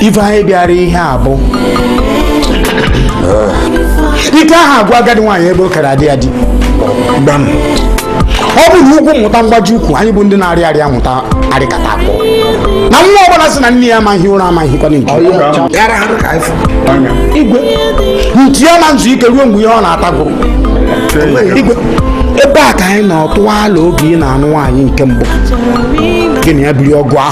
ife anyị bịara ihe a bụ ike aha agwụ agadi nwaanyị ebe o kere adị ya di ọ bụ na ugwu mụta mgbaji ukwu anyị bụ ndị na-arị ya amụta arịkata akpọ na nwa ọbụla sị na nne ya ama-ehi ụra ama-ehikwanụ nke igwe nti ya ama ezu ike ruo mgbe ihe ọ na-ata gwụrụ igwe ebe a ka anyị na ọtụwa ala oge ị na-anụ nwaanyị nke mbụ gị na ya biri ọgụ ahụ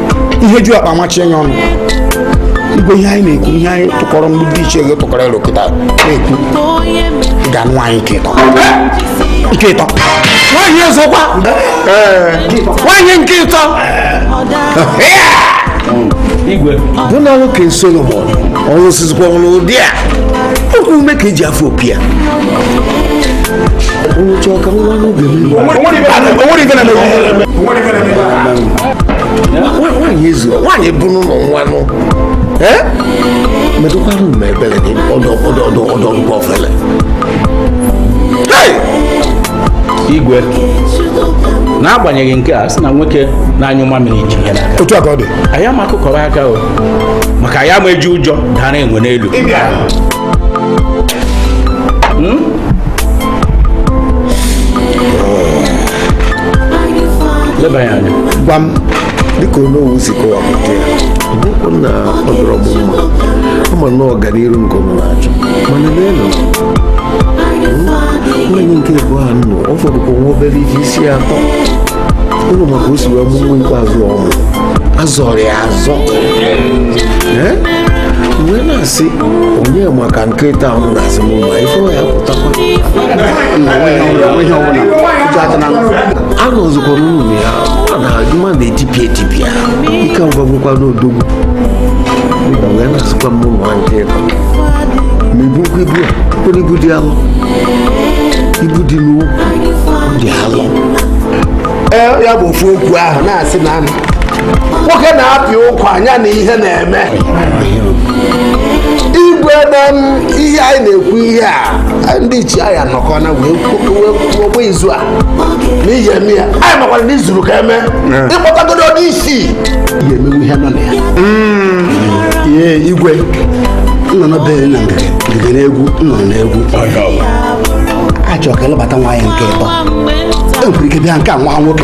ihe ju akpa amachie ya ọnụ igwe ihe anyị na-ekwu ihe anyị tụkọrọ ndị ichie ego tụkọrọ elo kịta na-ekwu ga-anụ nwaanyị nke ịtọ nke ịtọ nwaanyị ọzọkwa nwaanyị nke ịtọ igwe bụ na nwoke solomon ọrụ osizikwa ọrụ ụdị a oku ume ka eji afụ opi ya onye chọọ ka nwa n'oge onwere ife na-eme nwaanyị ezi nwaanyị bụ n'ụlọ nwanụ metụkwara ụmụ ebere gị ọdọ ọdọ ọdọ ọdọ ọgwụgwọ ofele igwe n'agbanyeghị nke a sị na nwoke na-anyụ mamịrị ji ya n'aka otu a ka ọ dị anyị ama akụkọrọ aka o maka anyị ama eji ụjọ dara enwe n'elu leba ya anya gwa m dịka onowu si kọwapụta ya bụ okwu na ọ dịrị m mma ama na ọganiru nke m na-achọ mana n'elu nwaanyị nke ịbụa nọ ọ fọdụkwa nwa obere ife isi atọ ụlọ maka o si wee mụ nwa ikpeazụ ọmụ azọrọ ya azọ wee na-asị onye ma ka nke ịtọ a ụnụ na-asị m ma ife ya pụtakwa a rụzikwa n'ụlọ ya ọ na-akụ m na-etipịa etipịa ike ọ ga-agwụkwanụ odogwu mba wee na-asịkwa mụ nwa nke a ama ebukwa ibu a kwere ibu dị alụ ibu dị n'ụkwụ dị alụ ya bụ ofu okwu ahụ na-asị na nwoke na-apị ụkwụ anya na ihe na-eme igwe na ihe anyị na-ekwu ihe a ndị ichie anyị anọkọna wee gbaa izu a n'ihi eme ya anyị makwara na izuru ka eme ịkpọtagodo onye isi ya emewe ihe nọ na ya hmm. igwe nọ n'obere na ngige n'egwu nọ n'egwu achọrọ ka ịlụbata nwaanyị nke ịtọ enwere ike bịa nke a nwa nwoke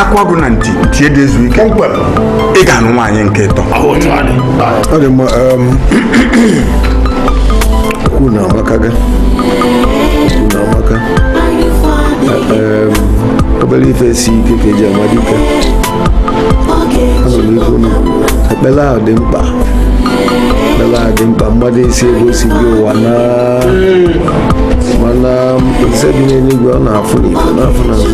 akwa ọgụ na nti tie dị ezu ike ị ga-anụ nwaanyị nke ịtọ ọ dị mma um, okwu na amaka gị okwu na amaka Um, obere ife si ike ka eji ama dike anụrụ ife unu kwuru. ekpere ahụ dị mkpa ekpere ahụ dị mkpa mmadụ esi ebe o si gị ụwa na mana eze dị n'eluigwe ọ na-afụ na ife na-afụ na azụ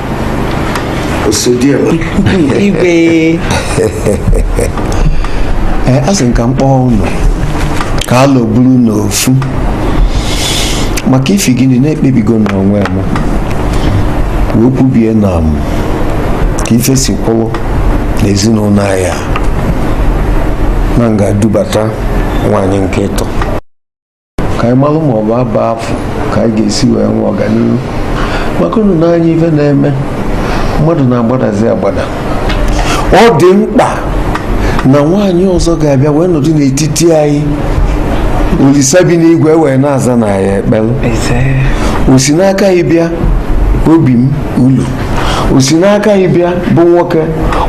igwe eh, a sị m ka m kpọọ ụnụ ka a lọburu n'ofu maka ifi gịnị na ekpebigo n'onwe m wee kwubie na maka ife si kwụrụ n'ezinụlọ anyị a na m ga-adubata nwaanyị nke ịtọ ka anyị malụ ma ọ bụ ebe afụ ka anyị ga-esi wee nwee ọganihu maka unu n'anya ife na-eme mmadụ na-agbadazi agbada ọ dị mkpa na nwaanyị ọzọ ga-abịa wee nọdụ n'etiti anyị olisa bi n'igwe wee na-aza anyị ekpele o si n'aka gị bịa obi m ulu o si n'aka gị bịa bụ nwoke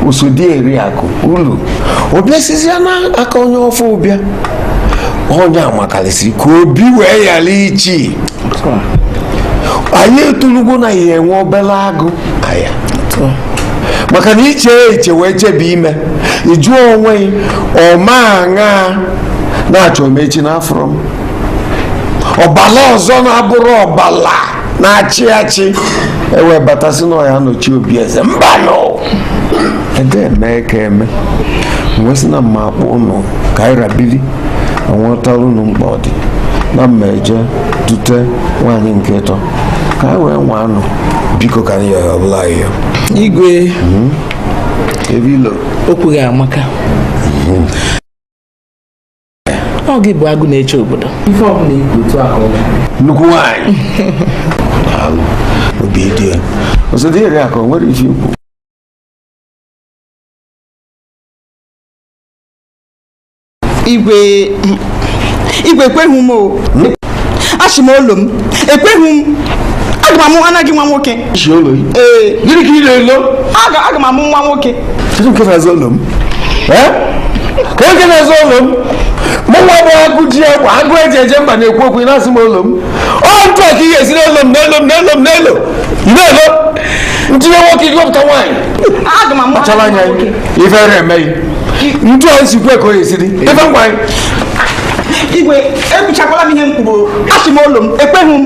osodi eriakụ ulu ọ bịa sizie n'aka onye ọfụụ bịa onye a makarịsịrị ka obi wee ghara ichi anyị etulugo na ya enwe obere agụ aya maka na iche eche wee chebe ime ịjụ onwe gị ọma aṅa na-achọ m echi na afụrụ m ọbala ọzọ na-abụrọ ọbala na-achị achị e wee bata sị na ọ ya nọchi obi eze mbanụ ede eme ka eme wee sị na m ma-akpọ ụnụ ka anyị rabili onwetara ụnụ mkpa ọ dị na m ma-eje dute nwaanyị nke ịtọ ka anyị wee nwaa nụ biko ka anyị yọrọ ọbụla anyị yọ igwe hmm? ebe ilo okwu gị amaka hmm. ọ gị bụ agụ na-eche obodo ife ọbụla i kwu otu ahụ nnukwu nwaanyị obi dị osodi eriakụ o nwere ife ikwu igwe igwe ekweghị m o asị m olu m ekweghị m aga m enye gị nwa nwoke chi ụlọ gị ee gịnị ka ị na-elo aga aga m amụ nwa nwoke kedu nke na-ezo ụlọ m ee kedu nke na-ezo ụlọ m mụ nwa bụ agụ ji egwu agụ eji eje mba na-ekwu okwu ị na-asị m ụlọ m ọ ntụ a ka ị ga-esi n'ụlọ m n'ụlọ m n'ụlọ m n'ụlọ ị na-elo ntinye nwoke gị wepụta nwaanyị aga m amụ kpachara anya nwoke ife na-emeghị ntu a nsi kwe ka o esiri ife ngwa anyị igwe ekwuchakwala m ihe m kwuru asị m olu m ekweghị m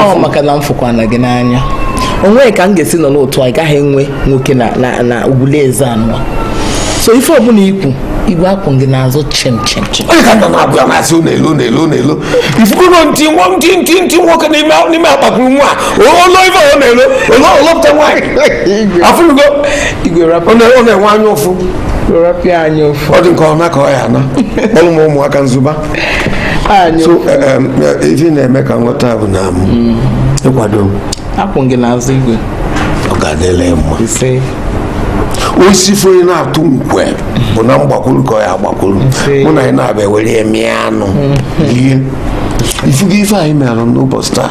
ọ maka na m fụkwana gị n'anya o nwe ka m ga-esi nọ n'otu a gaghị enwe nwoke na ugwule eze anọ so ife ọbụla i kwu igwe akwụ m gị n'azụ chim chim chim onye ka nọ na-abụ ya na-asị ụlọ elu ụlọ elu ụlọ elu ifukwuru ntị nwa ntị ntị ntị nwoke n'ime n'ime akpakuru nwa ụlọ ife ọ na-elo ụlọ o lopụta nwaanyị afụlugo igwe rapụ ọ na-enwe anya ụfụ rapịa anyị ofu ọ dị nke ọna ka ọ ya ana kpọrọ m ụmụaka nzụba anyị so eh, em, eh, ife ị na-eme ka m ghọta bụ na m ịkwado m akwụ gị n'azụ igwe ọ ga-adịla ya mma ise osisi foyi na-atụ nkwe bụ na m gbakwuru ka ọ ya agbakwuru Ise. mụ na gị na-abịa were ya mịa anụ rie ị fugo ife anyị mere n'ụbọchị taa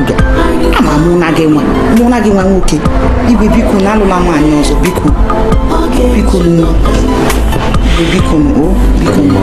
ndụ ama mụ na gị nwee mụ na gị nwee nwoke igwe biko nụ alụla nwaanyị ọzọ biko biko nụ biko nụ o biko nụ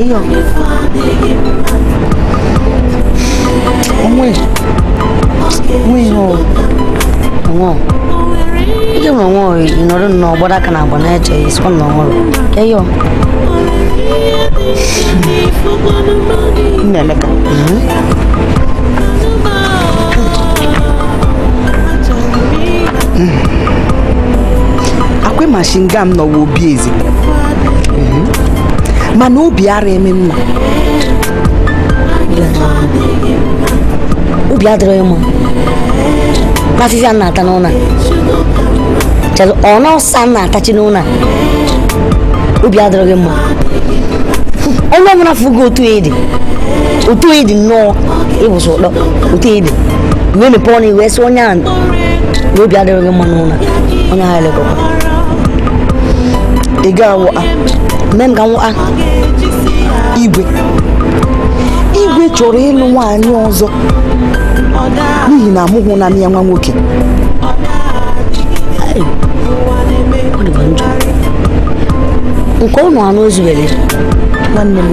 Ewo. Onwe. O nwe ihe o. Onwe o. Ike nwe onwe o ị nọrọ nnọọ gbado aka n'agba na-eche isi ọ nọ ọhụrụ. Ewo. Nne Emeka. Ọ kwa ị ma shi nga m nọwa obi eze mana obi ara eme mma obi adịrịghị m mma n'afụfụ m na-ata n'ụlọ a. Chere, ọ nsị a m na-atachi n'ụlọ a. obi adịrịghị m mma onye ọbụla fụgo otu ya dị otu ya dị nnọọ ịbụsị ụtọ otu ya dị wee mepee ọnụ wee sị onye ahụ na obi adịrịghị m mma n'ụlọ a. onye ha elekọkwa ị ga-anwụ a nne m ga-anwụ a igwe igwe chọrọ ịlụ nwaanyị ọzọ n'ihi na amụghụ na ya nwa nwoke nke ụnụ anụ o zuwere nwanne m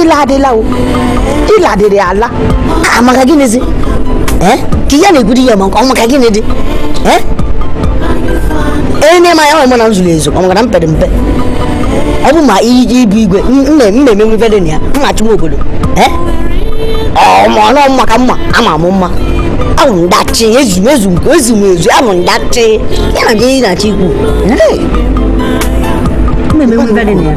ịla adịla o ịla adịrị ala a maka gịnịzi ee ka ya na-egwuri ya maka ọ maka gịnị dị ee enye ma ya ọmụ na m zuru ezu ọ maka na m pere mpe ọ bụ ma iji ibu igwe mmemme nwe ife dị na ya m na-achụ nwa obodo ee ọmụọnụ mma ka mma ama m mma ahụ ndachi ezu m ezu nke ezu m ezu ahụ ndachi ya na gị na-achị ikwu mmemme nwe ife dị na ya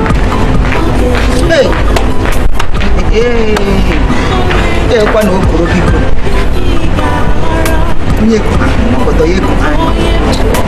ekwa na okoro biko onye kụrụ ọgọdọ ya ekụrụ